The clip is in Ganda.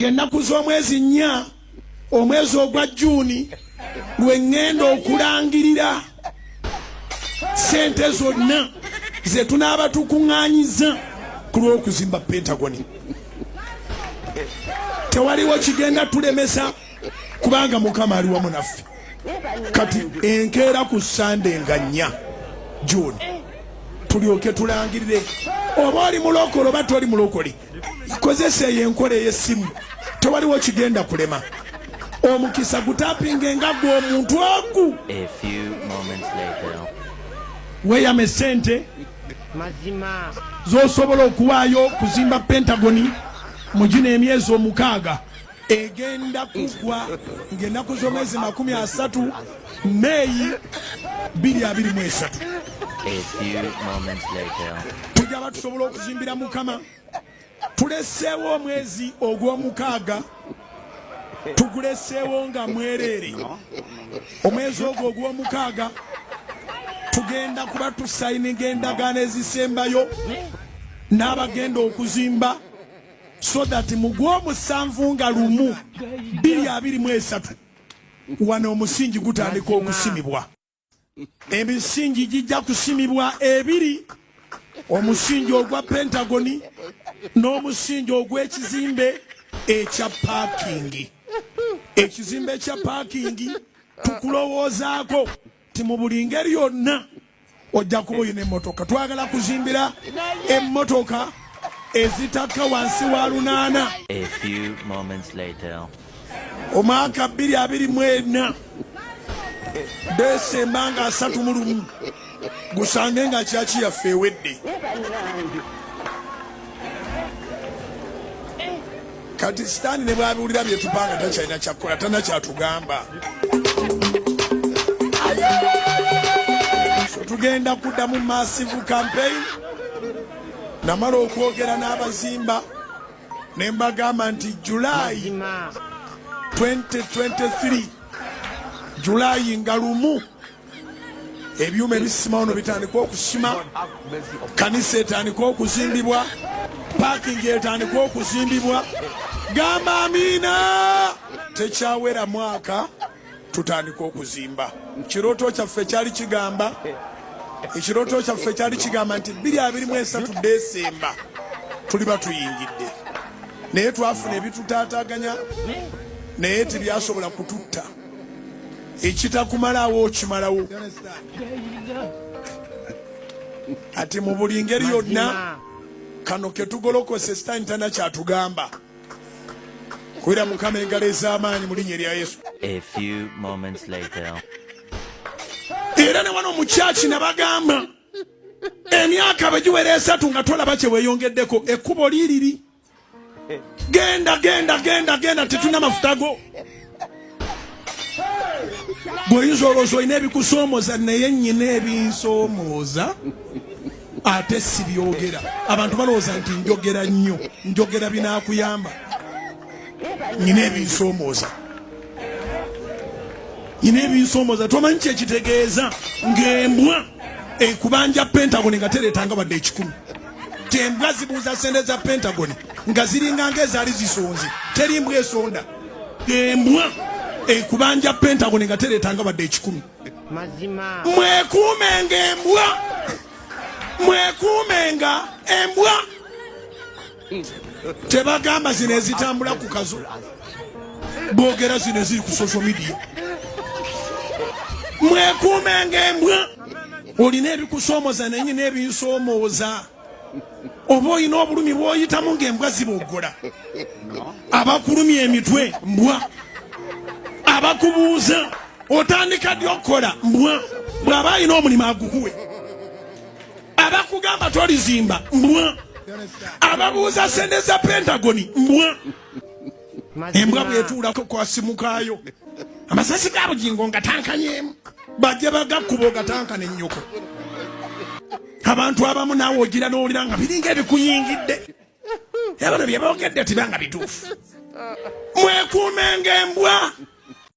ng'ennaku z'omwezi nnya omwezi ogwa juuni lwe ŋŋenda okulangirira sente zonna ze tunaaba tukuŋŋaanyiza ku lw'okuzimba pentagoni tewaliwo kigenda tulemesa kubanga mukama ali wamu naffe kati enkeera ku sande nga nnya juuni tulyoke tulangirire oba oli mulokole oba toli mulokole kozesa eyo enkola ey'essimu tewaliwo kigenda kulema omukisa gutapinga engagga omuntu ogu weyama esente zosobola okuwaayo kuzimba pentagoni mu gino emyezi omukaaga egenda kugwa ng'ennaku z'omwezi makumi asatu meeyi biri abiri mu esatu tujja ba tusobola okuzimbira mukama tuleseewo omwezi ogw'omukaaga tuguleseewo nga mwereere omwezi ogwo ogw'omukaaga tugenda kuba tusayininga endagaano ezisembayo n'abagenda okuzimba so that mu gw'omusanvu nga lumu bbiri abiri mu esatu wano omusingi gutandika okusimibwa emisingi gijja kusimibwa ebiri omusingi ogwa pentagoni n'omusingi ogw'ekizimbe ekya paakingi ekizimbe ekya paakingi tukulowoozaako ti mu buli ngeri yonna ojja kuba olina emmotoka twagala kuzimbira emmotoka ezitakka wansi wa lunaana omwaka bbiri abiri mu ena desemba nga asatu mu lumu gusange nga kyaki yaffe ewedde kati sitaani ne bwabiwulira byetupanga takyalina kyakkola tana kyatugamba tugenda kuddamu massive campaign namala okwogera n'abazimba ne mbagamba nti julayi 2023 julayi nga lumu ebyuma ebisima ono bitandika okusima kanisa etandika okuzimbibwa pakingi etandika okuzimbibwa gamba amiina tekyawera mwaka tutandika okuzimba kirooto kyaffe kyali kigamba ekirooto kyaffe kyali kigamba nti biri abiri mu esatu desemba tuliba tuyingidde naye twafuna ebitutaataganya naye tebyasobola kututta ekitakumalawo okimalawo kati mu buli ngeri yonna kano ketugolokose sitaani tana kyatugamba kubira mukama engalo ez'amaanyi mu linnya erya yesu era ne wano mukyaki nabagamba emyaka bwe giwera esatu nga tolaba kye weyongeddeko ekkubo liiriri Genda genda genda genda tetuna mafuta go. Goyinza olowooza olina ebikusoomoza naye nyina ebinsomooza ate sibyogera. Abantu balowooza nti njogera nnyo njogera binakuyamba nyina ebinsomooza nyina ebinsomooza tomanyi kyekitegeeza ng'embwa ekubanja pentagone nga tereetanga wadde ekikumi tembwa zibuuza sente za pentagon nga ziringa nga ezaali zisonze teri mbwa esonda embwa ekubanja pentagon nga tereetanga wadde ekikumi mwekuumenga embwa mwekuumenga embwa tebagamba zino ezitambula ku kazo bogera zino eziri ku social media mwekuumenga embwa olina ebikusoomoza naye nyina ebinsomooza oba olina obulumi bwoyitamu ngaembwa ziboggola abakulumya emitwe mbwa abakubuuza otandika ddi okukola mbwa bw'aba alina omulimu agukuwe abakugamba tolizimba mbwa ababuuza sente za pentagoni mbwa embwa bwetuula kwasimukaayo amasasi ga bugingo nga tankanyemu bajja bagakkuba ogatanka ne nnyoko abantu abamu naawe ogira n'owulira nga biringa ebikuyingidde yabano bye boogedde tibanga bituufu mwekuumenga embwa